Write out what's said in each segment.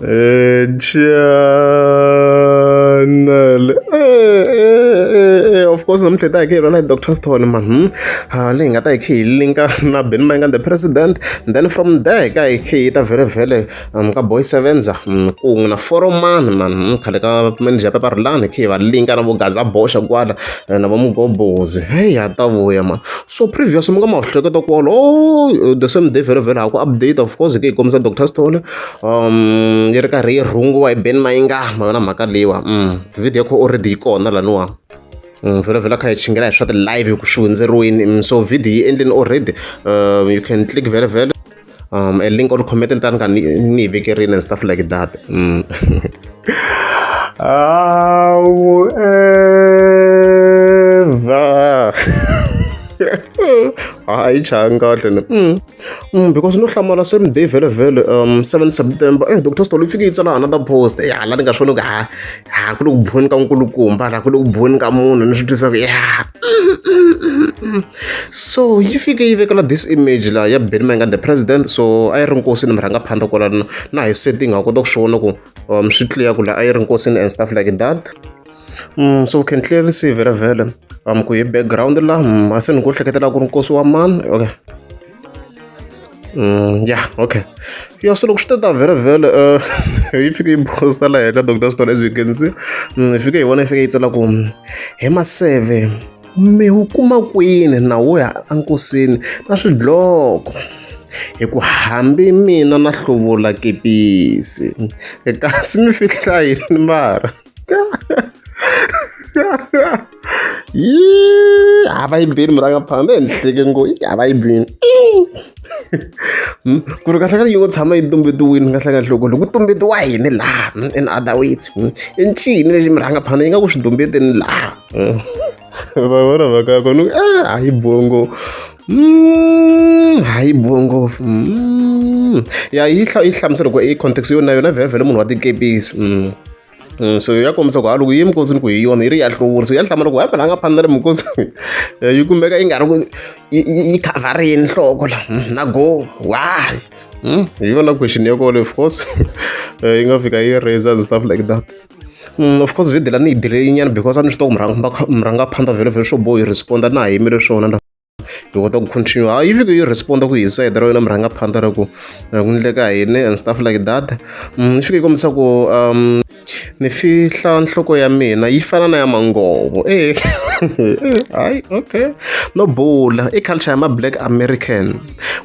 Eh, Channel. Eh, eh, eh, eh, of course namuntlha hi ta hi khe hi rhwala hi dr stone man hmm? Ah, leyi hi nga ta hi khe hi linka na ben mayinga the president then from there hi ka hi khe hi ta vhele vhele um, ka boy sevenza um, kungu na foroman man hmm? khale ka manager ya peparulani hi khe hi va linka na vo gaza boxa kwala eh, na va mugobozi heyi ha ta vuya man so previous mi nga ma hleketa kwala o the same day vhele vhele ha ku update of course hi khe hi kombisa dr stone yi ri karhi yi rhungiwa hi Benny Mayengani ma yona mhaka leyiwa video kho already yi kona laniwa vhelavhela kha hi chingela hi swa ti-live ku swi hundzeriweni so video yi endleni already um, you can click vhelavhela um, a link or comment ni ta ni ka ni ni yi vekerini and stuff like that mm. awu eva hayi changa kahle ni mm. Mm, because no hlamala same day vhele vhele um 7 september eh dr stolo fike yi tsala another post ya eh, la ni nga swona ku ha ha ku le ku boni ka nkulukumba la ku le ku boni ka munhu ni swi twisa ku ya so yi fike yi vekela this image la ya benny mangan the president so a yi ri nkosi ni mi rhanga phanda kwala na hi setting ha kota ku swi vona ku um swi clear ku la a yi ri nkosi and stuff like that Mm, so can clearly see very well um ku hi background la mm, i think ku hleketela ku ri nkosi wa mani okay mm, yeah okay ya so loko swi ta very well uh, yi fike yi bosta la heta doctor stone as you can see mm, yi fike yi vona yi fike yi tsela ku hi maseve mi wu kuma kwini na wo ya enkosini na swidloko hi ku hambi mina na hluvula kepisi kasi mi fihlayi ni mara Yii, havaimbeni murangapfana ndehenhleke ngo i havaimbeni hmm, ku ri kahlekahle yi ngo tshama yi tumbetiwini kahlekahle loko loko tumbetiwa yini laha hmm, in other words hmm, i ncini lexi murhangapfana yi nga ku swi tumbeteni laha vavona vakako ni eh, hayi bongo mm, hayi bongo mm. ya yi yi hlamusela ku i context yona yona vhele vhele munhu wa tikepisi mm. Mm, so ya kombisa ku ha loko yi minkosi ni ku hi yona yi ri ya hluvuri so ya hlamula ku hambela a nga phani na le minkosi yi kumeka yi nga ri ku yi khavharini nhloko la mm, na go why mm, hi yona question ya kole of course eh, yi nga fika yi raiser and stuff like that Of course video leyi a ni yi delay nyana because a ni swi tiva ku murhangaphandla vhele vhele swo boho yi respond-a na ha yimele swona na hi kota ku continue ha yi fike yi respond-a ku inside ra yona murhangaphandla ra ku ku ndleka yini and stuff like that ni fike yi kombisa ku um ni fihla nhloko ya mina yi fana na ya mangovo e hayi okay no bula i culture ya ma-black american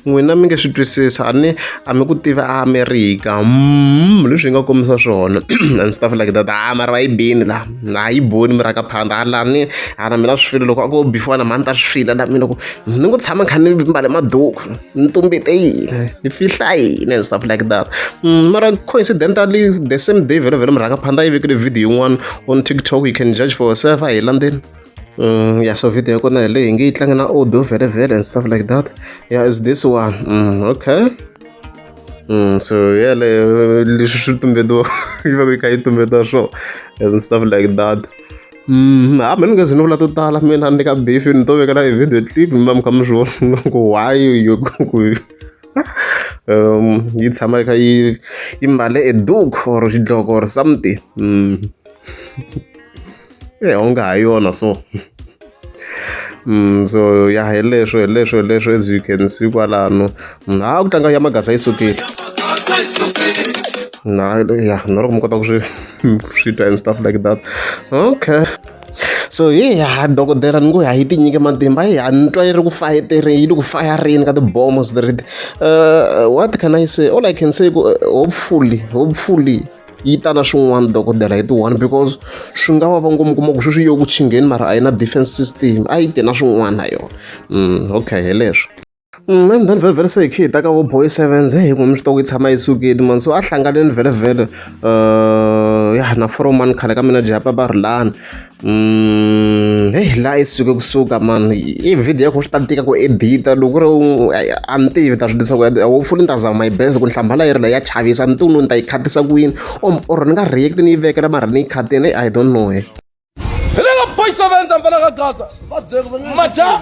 n'wina mi nge swi twisisa a ni a mi ku tivi a amerika mm, leswi hi nga kombisa swona and stuff like that a ah, mara va yi bini la a yi boni mi raka phanda a ah, la ni ana ah, mina swi file loko a ko before na mani ta swi file la mina ku ni ku tshama kha ni mbale maduku ni tumbete yini ni fihla yini and stuff like that mm, mara coincidentally the same day vhele vhele mi raka phanda yi vekile video yin'wana on tiktok you can judge for yourself a hi landzeni Mm, yeah, so video yakona hi leyi nge yi tlanga na audio vele vele and stuff like that yeah is this one mm, okay mm, so yeleyo leswi swi tumbetiwa yi va yi kha yi tumbetiwa swo and stuff like that Mm, ha mina ngezi ni vula to tala mina ni ka beef ni to vekela hi video clip mi va mi kha mi swi vona ku why you ku um yi tshama yi kha yi yi mbale a duke or xidloko or something mm. e onge ha yona so Mm, so ya hi leswo hi leswo hi leswo as you can see kwalano mm, ha ku tlanga ya magasa yi sukile na ya na loko mi kota ku swi swi twa and stuff like that okay so hi ha dokodela ni ngo ha yi tinyike matimba hi ha ni twa yi ri ku fayetereni yi ri ku fayarini ka tibomo switiriti uh, what can i say all i can say ku uh, hopefully hopefully yi ta na swin'wana dokodela hi ti-one because swi nga va va ngomu kuma ku sweswi yo ku chingheni mara a yi na defense system a yi te na swin'wana na yona mm, okay hi leswi mm, and then vhelevhele se hi khe hi ta ka vo boy sevens hi n'wi mi swi ta ku yi tshama yi sukile mani so a hlanganeni vhelevhele um ya na foromani khale ka mina japa va ri lani Mm, hey, la yi suke kusuka mani i video yakho swi ta tika ku edita loko ri a ni tivi ta swi disa ku hopefully ni ta zama my best ku ni hlambala yi ri la ya chavisa ni tunu ni ta yi khatisa ku yini or ni nga react ni yi vekela mara ni yi khatini i don't know he eh. hi le ka boys of enza mpela ka gaza maja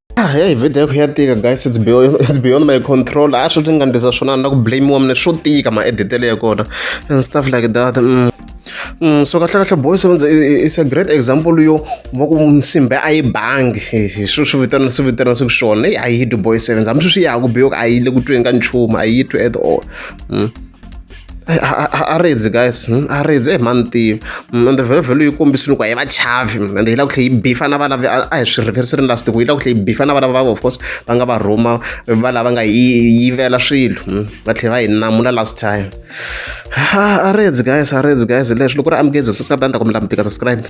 Ah, ya hi vheta ya ku ya tika guys it's beyond, it's beyond my control a ah, swi swi nga ndlisa swona ni la ku blamiwa mina swo tika maeditele ya kona and stuff like that mm. Mm, so kahle kahle boys is a great example yo va ku nsimbe a yi bangi hi swi swi vitana swi vitana swi ku swona a yi dwi boy sevens hambi swi swi yaku biyoku a yi le ku tweni ka nchumu a yi twi at all mm. a rindzi guys hmm? a rindzi e mhani tiyo hmm, ende vhelovhelo yi kombisini ku a yi va chavi hmm, ende yi lava ku tlhe yi bifa na vana a hi swi reverse ri last ku yi lava ku tlhe yi bifa na vana va of course va nga va rhuma va lava nga yi yivela swilo va tlhe va yi namula last time a rindzi guys a rindzi guys leswi loko ri amukezi swi sa ta ni ta ku mi lamutika subscribe